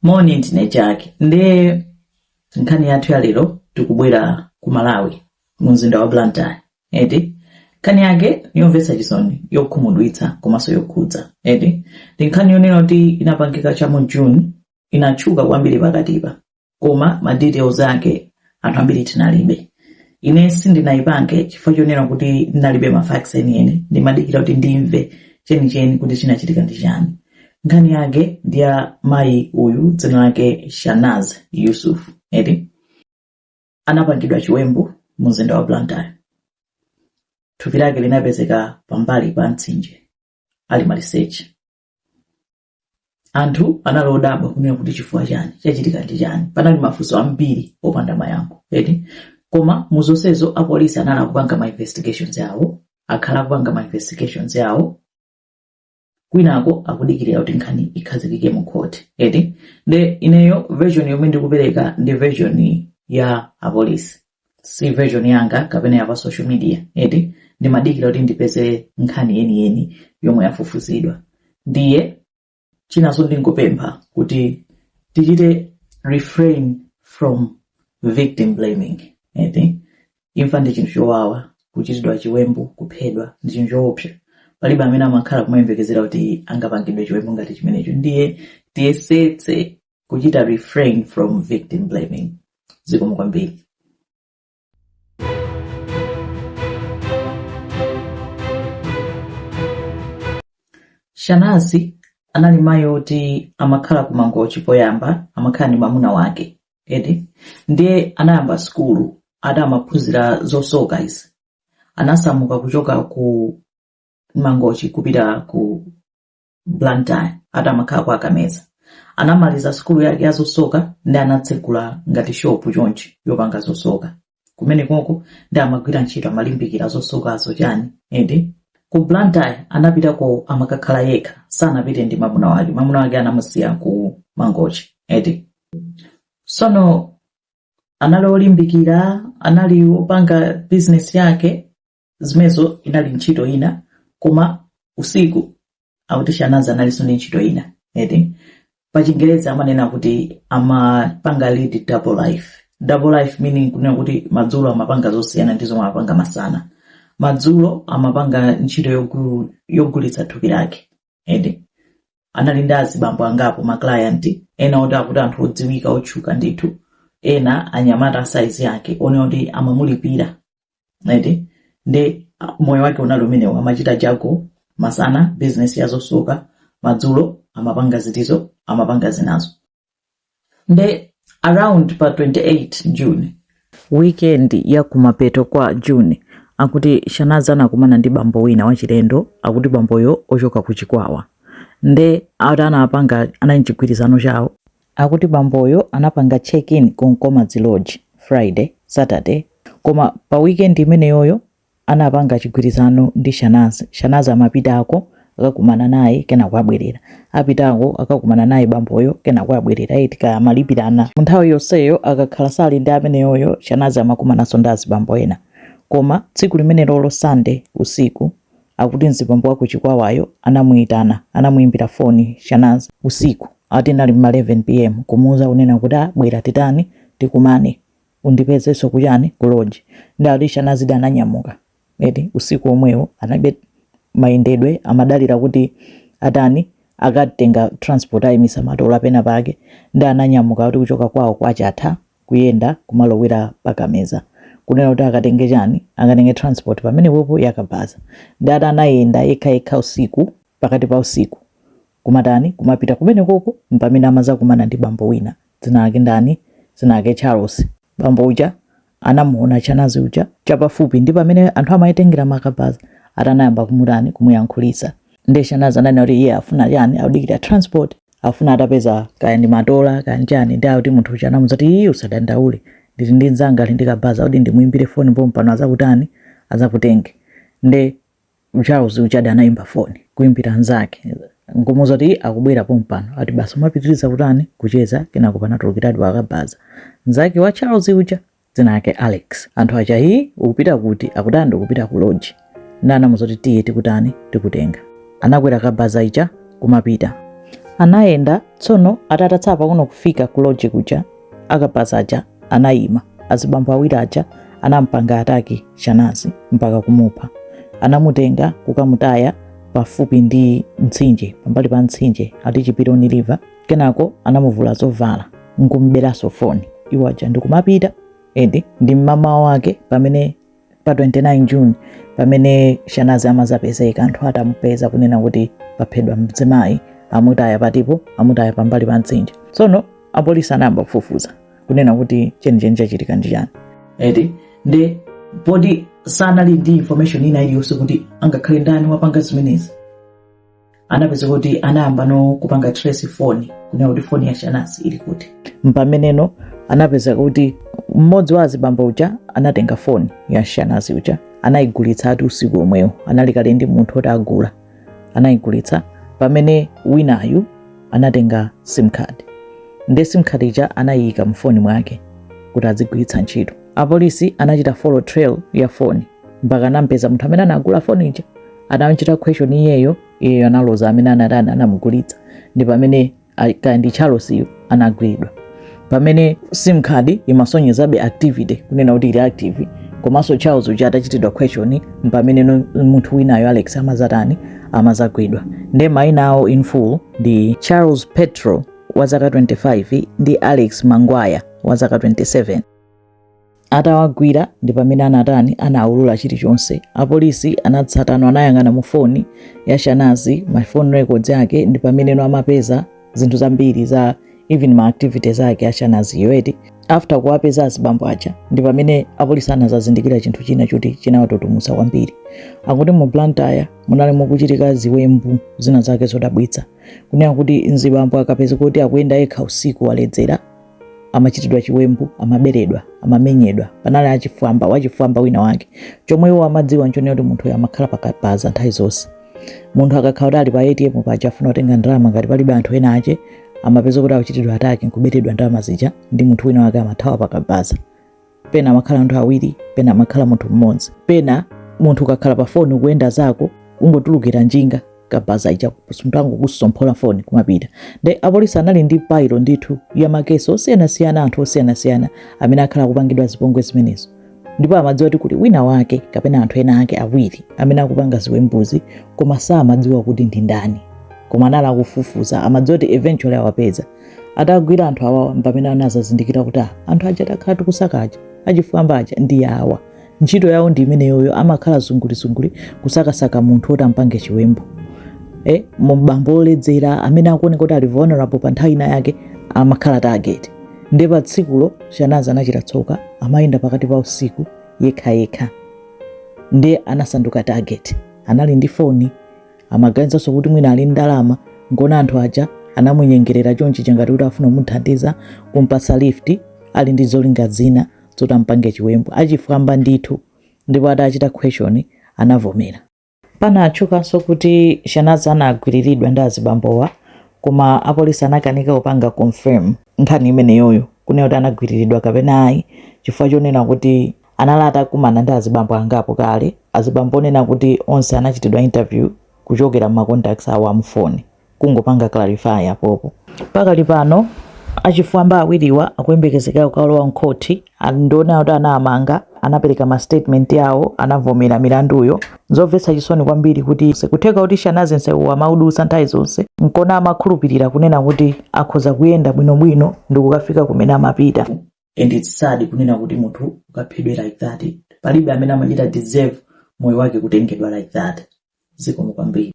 moni ndine chake ndiye nkhani yathu ya lero tikubwera ku malawi mu mzinda wa blantyre eti nkhani yake yomvetsa chisoni yokhumudwitsa komanso yokhudza eti ndi nkhani yonena kuti inapangika cha mu june inatchuka kwambiri pakatipa koma ma details ake anthu ambiri tinalibe ine sindinayipange chifukwa chonena kuti ndinalibe ma facts enieni ndimadikira kuti ndimve chenicheni kuti chinachitika ndi chani nkhani yake ndi ya mayi uyu dzina lake shanaz yusuf eti anapangidwa chiwembu mu mzinda wa blantyre thupi lake linapezeka pambali pa mtsinje ali maliseche anthu anali odabwa kunena kuti chifukwa chani chachitika ndi chani panali mafunso ambiri opanda mayankho eti koma mu zonsezo apolisi anali kupanga ma investigations awo akhala akupanga ma investigations awo kwinako akudikirira kuti nkhani ikhazikike mu court eti nde ineyo version yomwe ndikupereka ndi version ya apolisi si version yanga kapena ya pa social media eti ndimadikira kuti ndipeze nkhani yeniyeni yomwe yafufuzidwa ndiye chinanso ndingopempha kuti tichite refrain from victim blaming eti imfa ndi chinthu chowawa kuchitidwa chiwembu kuphedwa ndi chinthu choopsa palibe amene amakhala kumayembekezera kuti angapangidwe chiwembu ngati chimenecho ndiye tiyesetse kuchita refrain from victim blaming zikomo kwambiri shanazi anali mayi oti amakhala ku mangochi poyamba amakhala ndi mamuna wake eti ndiye anayamba sukulu ati amaphunzira zosoka izi anasamuka kuchoka ku mangochi kupita ku Blantyre ati amakhala kwa Kameza. Anamaliza sukulu yake ya zosoka ndi anatsegula ngati shopu chonchi yopanga zosoka. Kumenekoko ndi amagwira ntchito amalimbikira zosokazo chani eti ku Blantyre anapitako amakakhala yekha sanapite ndi mwamuna wake mwamuna wake anamusiya ku Mangochi eti sono anali olimbikira anali opanga bizinesi yake zimenezo inali ntchito ina koma usiku akuti shanazi analinso ndi ntchito ina eti pachingereza amanena kuti amapanga lead double life double life meaning kunena kuti madzulo amapanga zosiyana ndi zomwe amapanga masana madzulo amapanga ntchito yogu- yogulitsa thupi lake eti anali ndi azibambo angapo maclienti ena oti akuti anthu odziwika otchuka ndithu ena anyamata asaizi yake onse oti amamulipira eti ndi ah, moyo wake unali umenewo amachita jago masana bizinesi ya zosuka madzulo amapanga zitizo amapanga zinazo nde around pa 28 june weekend ya kumapeto kwa june akuti shanazi anakumana ndi bambo wina wachilendo akuti bamboyo ochoka ku chikwawa nde ati anapanga anachigwirizano chawo Akuti bamboyo anapanga check in ku Nkomadzi Lodge Friday, Saturday koma pa weekend imeneyoyo anapanga chigwirizano ndi Shanazi. Shanazi amapitako akakumana naye kenako abwerera. Apitako akakumana naye bamboyo kenako abwerera eti kaya amalipirana. Munthawi yonseyo akakhala sali ndi ameneyoyo Shanazi amakumananso ndi azibambo ena. Koma tsiku limenelolo Sunday usiku Akuti mzibambo waku Chikwawayo anamuitana, anamuimbira foni Shanazi usiku ati inali m'ma 11 pm kumuuza kunena kuti ah bwera titani, tikumane undipezenso ku chani ku lodge nde akuti Shanazi adi ananyamuka eti usiku omwewo analibe mayendedwe amadalira kuti atani akatenga transport aimisa matola pena pake nde ananyamuka kuti kuchoka kwawo kwa Chatha kuyenda kumalowera pa kameza kunena kuti akatenge chani akatenge transport pamenepopo yakabaza ndi ati anayenda yekha yekha usiku pakati pa usiku kumatani kumapita kumenekoko mpamene amazakumana ndi bambo wina dzina lake ndani dzina lake charles bambo uja anamuona shanazi uja chapafupi ndi pamene anthu amayitengera makabaza atanayamba kumutani kumuyankhulisa nde shanazi ananena kuti iye afuna chani akudikira transport afuna atapeza kaya ndi matola kaya nchani ndi akuti munthu uja anamuza kuti iyi usadandaule ndili ndi mzanga ali ndi kabaza kuti ndimuimbire foni pomwe pano azakutani azakutenge nde charles ujadi anaimba foni kuimbira nzake nkumuza kuti akubwera pomwe pano ati basi kumapitiriza kutani kucheza kenako panatulukiradi wakabaza mzake wa charles uja dzina lake Alex. Anthu aja hi ukupita kuti? Akuti andi ukupita ku lodge. Ndi anamuza kuti tiye tikutani tikutenga. Anakwera kabaza ija kumapita. Anayenda tsono atatsala pang'ono kufika ku lodge kuja akabaza aja anayima. Azibambo awiri aja anampanga ataki Shanazi mpaka kumupha. Anamutenga kukamutaya pafupi ndi mtsinje pambali pa mtsinje ati Chipironi River. kenako anamuvula zovala nkumberanso foni iwo aja ndikumapita eti ndi mmamawa wake pamene pa 29 june pamene shanazi amazapezeka anthu atamupeza kunena kuti paphedwa mzimayi amutaya pathipo amutaya pambali pa mtsinje tsono apolisi anayamba kufufuza kunena kuti chenicheni chachitika ndi chani eti ndi poti sanali ndi information ina iliyonse kuti angakhale ndani wapanga zimenezi anapezeka kuti anayamba no kupanga trace foni kunena kuti foni ya shanazi ili kuti mpameneno anapeza kuti mmodzi wa azibambo uja anatenga foni ya shanazi uja anayigulitsa ati usiku omwewo anali kale ndi munthu oti agula anayigulitsa pamene winayu anatenga sim card ndi sim card ija anayiyika mfoni mwake kuti azigwiritsa ntchito apolisi anachita follow trail ya foni mpaka anampeza munthu amene anagula foni ija anamchita question iyeyo iyeyo analoza amene anati ana- anamugulitsa ndi pamene a- kaya ndi charles yu anagwiridwa pamene sim card imasonyezabe activity kunena kuti ili active komanso charles uja atachitidwa question mpamene no- munthu winayo alex amazatani amazagwidwa nde maina awo in full ndi charles petro wa zaka 25 ndi alex mangwaya wa zaka 27 Atawagwira ndi pamene anatani anawulula chilichonse. Apolisi anatsatano anayang'ana mu foni ya Shanazi, ma phone records yake ndi pamene no amapeza zinthu zambiri za even ma activities ake a Shanazi yoti after kuwapeza azibambo aja ndi pamene apolisi anazazindikira chinthu china choti chinawatutumutsa kwambiri. Akuti mu Blantyre munali mukuchitika ziwembu zina zake zodabwitsa. Kunena kuti mzibambo akapezeka kuti akuyenda yekha usiku waledzera amachitidwa chiwembu amaberedwa amamenyedwa panali achifwamba wachifwamba wina wake chomwe iwo amadziwa nchonena kuti munthuyo amakhala pakabaza nthawi zonse munthu akakhala kuti ali pa atm paja afuna kutenga ndalama ngati palibe anthu ena ake amapeza kuti akuchitidwa attack nkuberedwa ndalama zija ndi munthu wina wake amathawa pakabaza pena amakhala anthu awiri pena amakhala munthu mmodzi pena munthu ukakhala pa foni ukuyenda zako ungotulukira njinga kabaza ija munthu angokusomphola foni kumapita nde apolisi anali ndi pile ndithu ya ma case osiyanasiyana anthu osiyanasiyana amene akhala akupangidwa zipongwe zimenezo ndipo amadziwa kuti kuli wina wake kapena anthu ena ake awiri amene akupanga ziwembuzi koma samadziwa kuti ndi ndani koma anali akufufuza amadziwa kuti eventually awapeza atagwira anthu awawa mpamene anazazindikira kuti ah, anthu aja takhala tikusaka aja achifwamba aja ndi awa ntchito yawo ndi imeneyoyo amakhala zungulizunguli kusakasaka munthu oti ampange chiwembu eh, mbambo oledzera amene akuoneka kuti ali vulnerable pa nthawi ina yake amakhala target nde pa tsikulo shanazi anachita tsoka amayenda pakati pa usiku yekhayekha nde anasanduka target anali ndi foni Amaganizanso kuti mwina ali ndi ndalama, n'kuona anthu aja anamunyengerera chonchija ngati kuti akufuna kumuthandiza, kum'patsa lift, ali ndi zolinga zina zoti amupange chiwembu. Achifwamba ndithu, ndipo atachita question anavomera. Panatchukanso kuti Shanazi anagwiriridwa ndi azibambowa koma apolisi anakanika kupanga confirm nkhani imeneyoyo, kunena kuti anagwiriridwa kapena ayi, chifukwa chonena kuti Anali atakumana ndi azibambo angapo kale, azibambo onena kuti onse anachitidwa interview kuchokera mma contacts awo a mfoni. Kungopanga clarify apopo. Pakali pano, achifwamba awiriwa akuyembekezeka kukalowa mkhoti and ndionena kuti anawamanga, anapereka ma statement yawo, anavomera milanduyo. Nzomvetsa chisoni kwambiri kuti nkutheka kuti Shanazy nsewu amaudutsa nthawi zonse nkona amakhulupirira kunena kuti akhoza kuyenda bwinobwino ndikukafika kumene amapita. and it's sad kunena kuti munthu ukaphedwe like that palibe amene amachita deserve moyo wake kutengedwa like that zikomo kwambiri